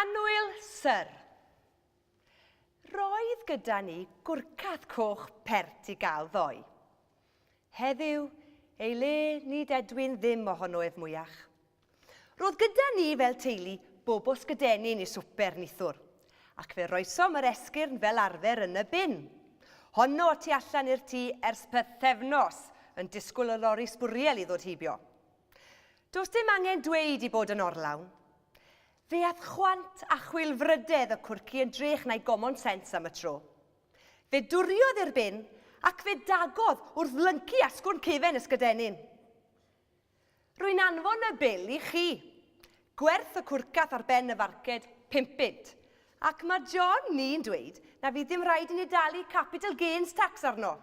Annwyl, Syr. Roedd gyda ni gwrcath coch pert i gael ddoe. Heddiw, ei le, nid edwyn ddim ohono ef mwyach. Roedd gyda ni fel teulu bobos gydenyn i swper nithwr, ac fe roesom yr esgyrn fel arfer yn y bin. Honno y tu allan i'r tŷ ers pythefnos, yn disgwyl y lori sbwriel i ddod heibio. Does dim angen dweud i bod yn orlawn. Fe ath chwant a chwilfrydedd y cwrci yn drech na'i gomon sens am y tro. Fe dwriodd i'r bin ac fe dagodd wrth lyncu asgwrn cefen ysgydennin. Rwy'n anfon y bil i chi. Gwerth y cwrcath ar ben y farced, pump bunt. Ac mae John ni'n dweud na fydd dim rhaid i ni dalu capital gains tax arno.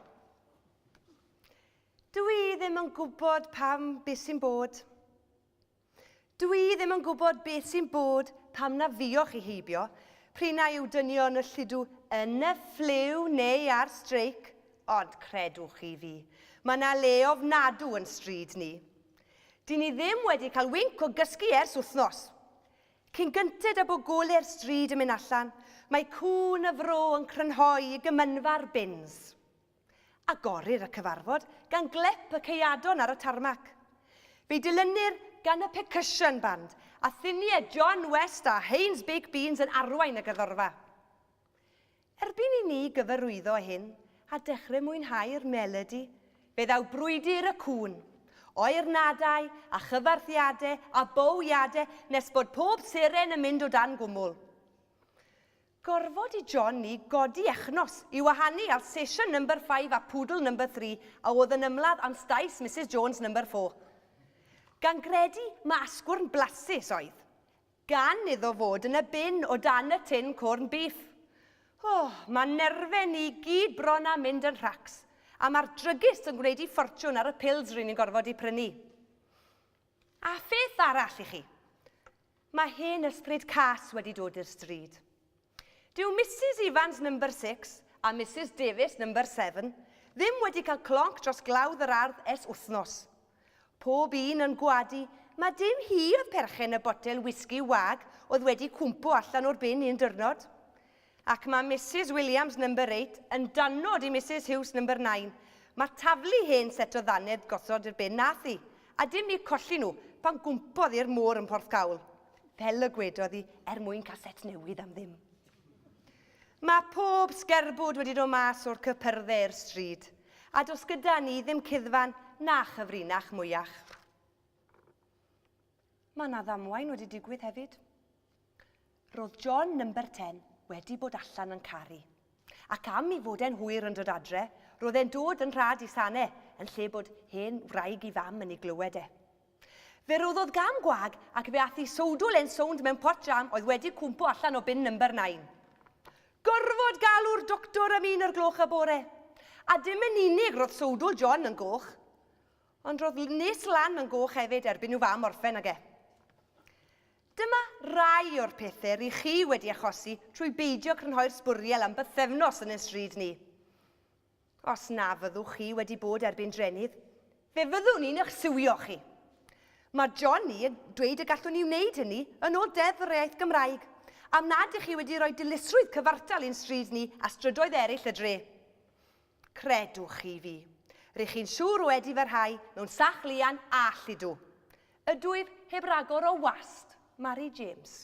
Dw i ddim yn gwybod pam beth sy'n bod. Dw i ddim yn gwybod beth sy'n bod pam na fuoch chi heibio, p'run na yw dynion y lludw yn y ffliw neu ar streic, ond credwch chi fi, mae 'na le ofnadw yn stryd ni. Dyn ni ddim wedi cael winc o gysgu ers wythnos. Cyn gynted â bod gole'r stryd yn mynd allan, mae cŵn y fro yn crynhoi i gymynfa'r bins. Agorir y cyfarfod gan glep y ceuadon ar y tarmac. Fe'i dilynir gan y Percussion Band a ffiniau John West a Haynes Baked Beans yn arwain y gerddorfa. Erbyn i ni gyfarwyddo â hyn a dechrau mwynhau'r melodi, fe ddaw brwydr y cŵn, oernadau a chyfarthiadau a bowiadau nes bod pob seren yn mynd o dan gwmwl. Gorfod i John ni godi echnos i wahanu ar sesiwn number five a poodle number three a oedd yn ymladd am staes Misus Jones number four. Gan gredu ma asgwrn blasus oedd. Gan iddo fod yn y bin o dan y tin corn beef. O, ma nerfe ni gyd bron a mynd yn rhacs. A ma'r drygist yn gwneud i ffortiwn ar y pills ry'n ni'n gorfod i prynu. A pheth arall i chi. Mae hen ysbryd cas wedi dod i'r stryd. Dyw Misus Evans number six a Misus Davies number seven ddim wedi cael clonc dros glawdd yr ardd ers wythnos. Pob un yn gwadu ma dim hi oedd perchen y botel wisgi wag oedd wedi cwmpo allan o'r bin un dyrnod. Ac mae Misus Williams, Number Eight, yn danod i Misus Hughes, Number Nine. Mae taflu hen set o ddannedd gosod i'r bin nath hi, a dim eu colli nhw, pan gwmpodd i'r môr yn Porthcawl. Fel y gwedodd hi, er mwyn cael set newydd am ddim. Mae pob sgerbwd wedi dod mas o'r cypyrdde i'r stryd, a does gyda ni ddim cuddfan na chyfrinach mwyach. Mae 'na ddamwain wedi digwydd hefyd. Roedd John number 10 wedi bod allan yn caru. Ac am i fod e'n hwyr yn dod adre, roedd e'n dod yn rhad i Sane yn lle bod hen wraig i fam yn ei glywed e. Fe roddodd gam gwag ac fe ath i sowdl e'n sownd mewn pot jam oedd wedi cwmpo allan o bin number 9. Gorfod galw'r doctor am un o'r gloch y bore. A dim yn unig roedd sowdl John yn goch. Ond roedd Nis Lan yn goch hefyd erbyn i'w fam orffen ag e. Dyma rai o'r pethau ry chi wedi achosi trwy beidio crynhoi'r sbwriel am bythefnos yn ein stryd ni. Os na fyddwch chi wedi bod erbyn drenydd, fe fyddwn ni'n eich siwio chi. Mae Johnny yn dweud y gallwn ni wneud hynny yn ôl Deddf yr Iaith Gymraeg, am nad ych chi wedi rhoi dilysrwydd cyfartal i'n stryd ni a strydoedd eraill y dre. Credwch chi fi, rych chi'n siŵr wedi fy rhai mewn sach lian all ydw. Ydwyf heb ragor o wast, Mari James.